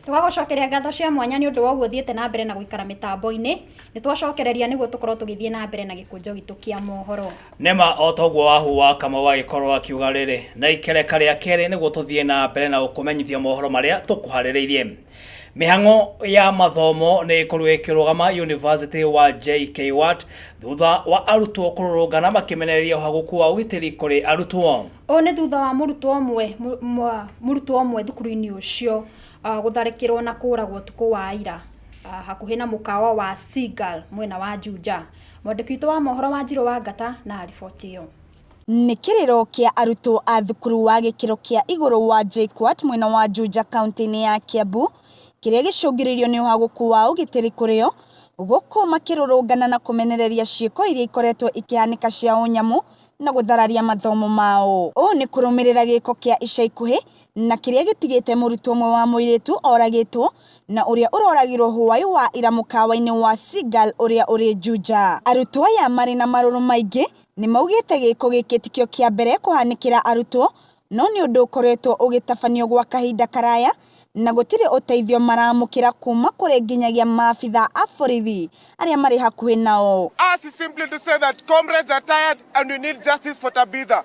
tũgagũcokeria ngatho cia mwanya nĩ ũndũ wa ũguo thiĩte na mbere na gũikara mĩtambo-inĩ nĩ twacokereria nĩguo tũkorwo tũgĩthiĩ na mbere na gĩkũnjo gitũ kĩa mohoro nema o toguo wahuwa kama wagĩkorwo akiuga rĩrĩ na ikereka rĩa kerĩ nĩguo tũthiĩ na mbere na gũkũmenyithia mohoro marĩa tũkũharĩrĩirie Mĩhang'o ya mathomo nĩ ĩkorwo ĩkĩrũgama yunivasĩtĩ wa JKUAT thutha wa arutwo kũrũrũngana makĩmenereria ũhagũku wa ũgitĩri kũrĩ arutwo. Ũũ nĩ thutha wa mũrutwo ũmwe mũrutwo ũmwe thukuru-inĩ ũcio ah, gũtharĩkĩrwo na kũragwo ũtukũ wa ira ah, hakuhĩ na mũkawa wa Seagull mwena wa Juja. Mwandĩki witũ wa mohoro wa Njirũ wa Ngata na riboti ĩyo. Nĩ kĩrĩro kĩa arutwo a thukuru wa gĩkĩro kĩa igũrũ wa JKUAT mwena wa Juja kaũntĩ-inĩ ya Kiambu kĩrĩa gĩcũngĩrĩirio nĩ ũhagũku wa ũgitĩri kũrĩ o, gũkũ makĩrũrũngana na kũmenereria ciĩko iria ikoretwo ikĩhanĩka cia ũnyamũ na gũthararia mathomo mao. Ũũ nĩ kũrũmĩrĩra gĩko kĩa ica ikuhĩ na kĩrĩa gĩtigĩte mũrutwo ũmwe wa mũirĩtu oragĩtwo na ũrĩa ũroragirwo hwaĩ wa ira mũkawa-inĩ wa Seagull ũrĩa ũrĩ Juja. Arutwo aya marĩ na marũrũ maingĩ nĩmaugĩte gĩĩko gĩkĩ tikĩo kĩa mbere kũhanĩkĩra arutwo no nĩ ũndũ ũkoretwo ũgĩtabanio gwa kahinda karaya na gũtirĩ ũteithio maraamũkĩra kuuma kũrĩ nginyagia maabitha a borithi arĩa marĩ hakuhĩ nao. Ours is simply to say that comrades are tired and we need justice for Tabitha.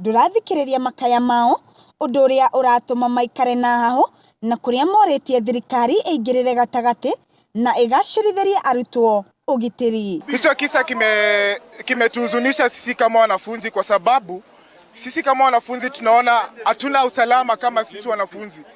ndũrathikĩrĩria makaya mao, ũndũ ũrĩa ũratũma maikare na hahũ na kũrĩa morĩtie thirikari ĩingĩrĩre gatagatĩ na ĩgacĩrithĩrie arutwo ũgitĩri. Hicho kisa kimetuhuzunisha kime sisi kama wanafunzi kwa sababu sisi kama wanafunzi tunaona hatuna usalama kama sisi wanafunzi.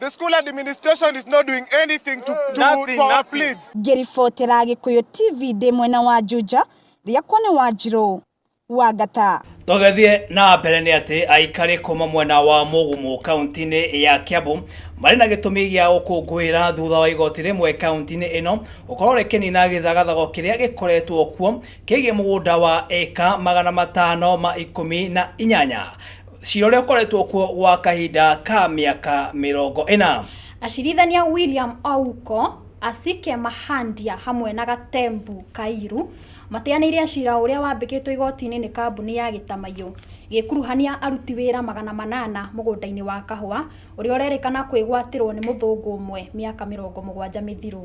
The school administration is not doing anything to, to Nothing, for our nothing. pleads. ngĩribotera gĩkũyũ tv ndĩ mwena wa njuja rĩakwa nĩ wanjirũ wa ngata tũgĩthiĩ na mbere nĩ atĩ aikari kuma mwena wa mũgumu kaunti-inĩ ya kiambu marĩ na gĩtũmi gĩa gũkũngũĩra thutha wa igoti rĩmwe kaunti-inĩ ĩno gũkorwo rĩkĩnina gĩthagathago kĩrĩa gĩkoretwo kuo kĩgiĩ mũgũnda wa ĩka magana matano ma ikũmi na inyanya Cira ũrĩa ũkoretwo kuo gwa kahinda ka mĩaka mĩrongo ĩna. Acirithania William Ouko, Asike Mahandia hamwe na Gatembu Kairu mateanĩire cira ũrĩa wambĩkĩtwo igoti-inĩ nĩ kambuni ya Gĩtamaiyũ ĩgĩkuruhania aruti wĩra magana manana mũgũnda-inĩ wa kahũa ũrĩa ũrerĩkana kwĩgwatĩrwo nĩ mũthũngũ ũmwe mĩaka mĩrongo mũgwanja mĩthiru.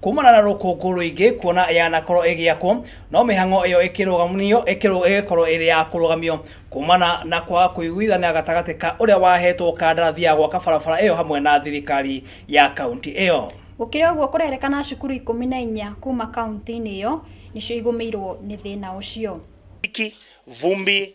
Kuumana na rũkũngũ rũingĩ kuona yanakorwo ĩgĩakwo, no mĩhang'o ĩyo ĩkĩrũgamio ĩkĩrũ- ĩgĩkorwo ĩrĩ ya kũrũgamio kuumana na kwaga kũiguithania gatagatĩ ka ũrĩa waheetwo kandarathi ya gwaka barabara ĩyo hamwe na thirikari ya kauntĩ ĩyo. Gũkĩrĩ ũguo kũrerekana cukuru ikũmi na inya kuuma kauntĩ-inĩ ĩyo nĩcio igũmĩirwo nĩ thĩna ũcio. Mwaki, vumbi,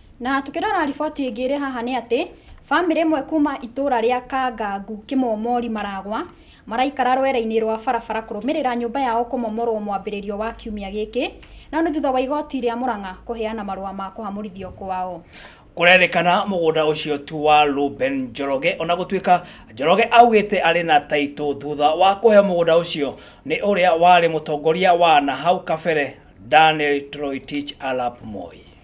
Na tũkĩrora riboti ĩngĩ ĩrĩ haha nĩ atĩ, bamĩrĩ ĩmwe kuma itũra rĩa Kangangu Kĩmomori Maragwa, maraikara rwere-inĩ rwa barabara kũrũmĩrĩra nyũmba yao kũmomorwo mwambĩrĩrio wa kiumia gĩkĩ, no nĩ thutha wa igoti rĩa Mũrang'a kũheana marũa ma kũhamũrithio kwao. Kũrerĩkana mũgũnda ũcio tu wa Reuben Njoroge ona gũtuĩka Njoroge augĩte arĩ na taitũ thutha wa kũheo mũgũnda ũcio nĩ ũrĩa warĩ mũtongoria wa nahau kabere Daniel Toroitich Arap Moi.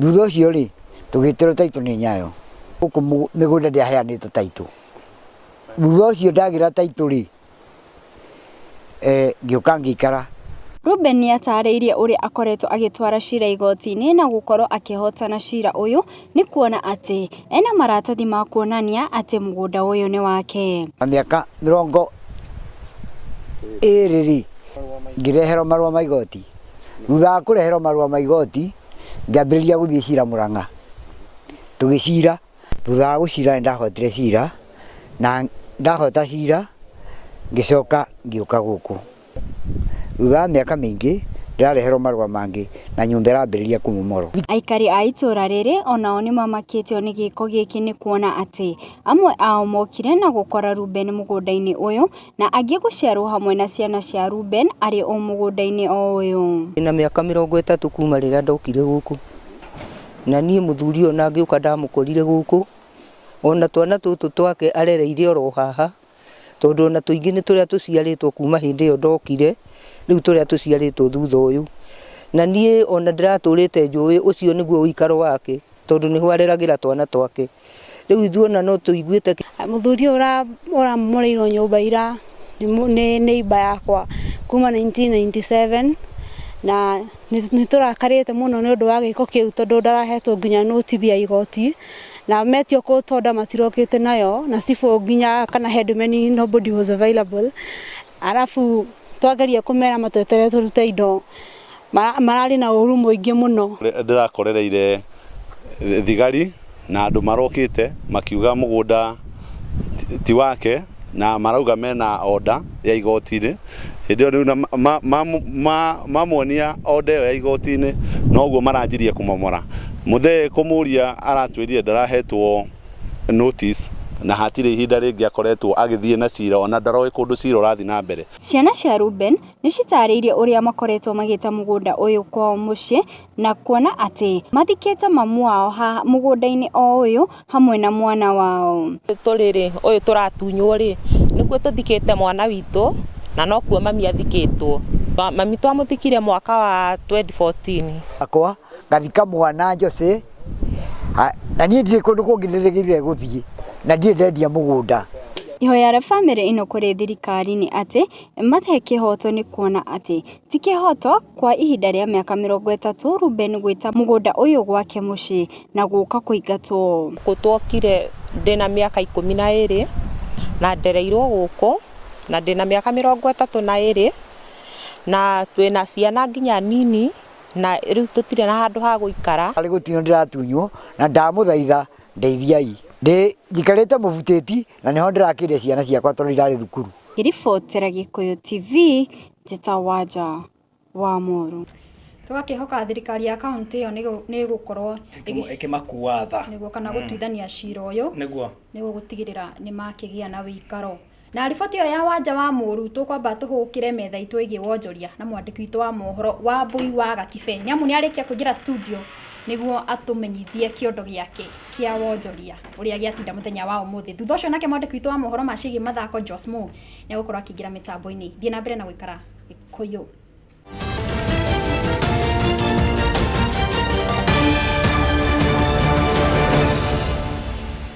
Thutha ũcio rĩ, tũgĩtĩrwo taitũ nĩ Nyayo. Gũkũ mĩgũnda ndĩaheanĩtwo taitũ. Thutha ũcio ndagĩra taitũ rĩ, eh, ngĩũka ngĩikara. Reuben nĩ ataarĩirie ũrĩa akoretwo agĩtwara cira igoti-inĩ na gũkorwo akĩhootana cira ũyũ nĩ kuona atĩ ena maratathi ma kuonania atĩ mũgũnda ũyũ nĩ wake. Na mĩaka mĩrongo ĩĩrĩ rĩ, ngĩreherwo marũa ma igoti. Thutha wa kũreherwo marũa ma igoti, ngĩambĩrĩria gũthiĩ cira Mũrang'a, tũgĩcira, thutha wa gũcira nĩ ndahotire cira, na ndahota cira ngĩcoka ngĩũka gũkũ. Thutha wa mĩaka mĩingĩ ndĩrareherwo marũa mangĩ na nyũmba ĩrambĩrĩria kũmomorwo. Aikari a itũra rĩrĩ onao nĩmamakĩtio nĩ gĩko gĩkĩ nĩ kuona atĩ amwe ao mokire na gũkora Rubeni mũgũnda-inĩ ũyũ, Na angĩ gũciarwo hamwe na ciana cia Rubeni arĩ o mũgũnda-inĩ o ũyũ. Ndĩ na mĩaka mĩrongo ĩtatũ kuuma rĩrĩa ndokire gũkũ, na niĩ mũthuri ũyũ na ngĩũka ndamũkorire gũkũ, o na twana tũtũ twake arereire o ro haha, tondũ o na tũingĩ nĩ tũrĩa tũciarĩtwo kuuma hĩndĩ ĩyo ndokire, rĩu tũrĩa tũciarĩtwo thutha ũyũ. Na niĩ o na ndĩratũrĩte njũĩ ũcio nĩguo ũikaro wake, tondũ nĩho areragĩra twana twake. rĩu ithuĩ ona no tũiguĩte mũthuri ũyũ ũramoreirwo nyũmba ira nĩ neighbor yakwa kuma 1997 na nĩ tũrakarĩte mũno nĩ ũndũ wa gĩko kĩu tondũ ndarahetwo nginya notithi ya igoti na metio court order matirokĩte nayo na cibũ nginya kana headman nobody was available arabu twageria kũmera matweterere tũrute indo Mararĩ na ũũru mũingĩ mũno. Ndĩrakorereire thigari na andũ marokĩte makiuga mũgũnda ti wake na marauga mena order ya igoti-inĩ. Hĩndĩ ĩyo rĩu mamuonia order ĩyo ya igoti-inĩ noguo maranjirie kũmomora. Mũthee kũmũria aratwĩrire ndarahetwo notice na hatirĩ ihinda rĩngĩ akoretwo agĩthiĩ na cira ona ndaroĩ kũndũ cira ũrathiĩ na mbere. Ciana cia Rubeni nĩ citarĩirie ũrĩa makoretwo magĩta mũgũnda ũyũ kwao mũciĩ na kuona atĩ mathikĩte mamu wao mũgũnda-inĩ o ũyũ hamwe na mwana wao. Tũrĩ rĩ ũyũ tũratunywo rĩ nĩkuo tũthikĩte mwana witũ na nokuo mami athikĩtwo. Mami twamũthikire mwaka wa 2014. Akwa ngathika mwana Jose na niĩ ndirĩ kũndũ kũngĩ ndĩrĩgĩrĩire gũthiĩ na ndirĩ ndendia mũgũnda. Ihoya rĩa bamĩrĩ ĩno kũrĩ thirikari nĩ atĩ Mate kĩhoto nĩ kuona atĩ ti kĩhoto kwa ihinda rĩa mĩaka mĩrongo ĩtatũ Ruben gwĩta mũgũnda ũyũ gwake mũciĩ na gũka kũingatwo. Gũkũ twokire ndĩna mĩaka ikũmi na ĩrĩ na ndereirwo gũkũ na ndĩna mĩaka mĩrongo ĩtatũ na ĩrĩ na twĩna ciana nginya nini na rĩu tũtirĩ na handũ ha gũikara. Ndarĩ gũtunywo ndĩratunywo na ndamũthaitha ndeithiai. Ndĩ njikarĩte mũbutĩti na nĩho ndĩrakĩrire ciana ciakwa tondũ irarĩ thukuru. Ngĩribotera Gĩkũyũ TV, njĩtagwo Anja Wamũrũ. Tũgakĩhoka thirikari ya kaũntĩ ĩyo nĩ ĩgũkorwo ĩkĩmakua tha nĩguo kana mm. gũtuithania cira ũyũ nĩguo nĩguo gũtigĩrĩra nĩ makĩgĩa na wĩikaro na riboti ĩyo ya wanja wa mũru tũkwamba tũhũkĩre metha itũ ĩgiĩ wonjoria na mwandĩki witũ wa mohoro wa mbui wa gakibe nĩ amu nĩ arĩkia kũingĩra studio nĩguo atũmenyithie kĩondo gĩake kĩa wonjoria ũrĩa gĩatinda mũthenya wa ũmũthĩ. Thutha ũcio nake mwandĩki witũ wa mohoro ma ciĩgiĩ mathako Jos Mo nĩ agũkorwo akĩingĩra mĩtambo-inĩ. Thiĩ na mbere na gũikara Gĩkũyũ.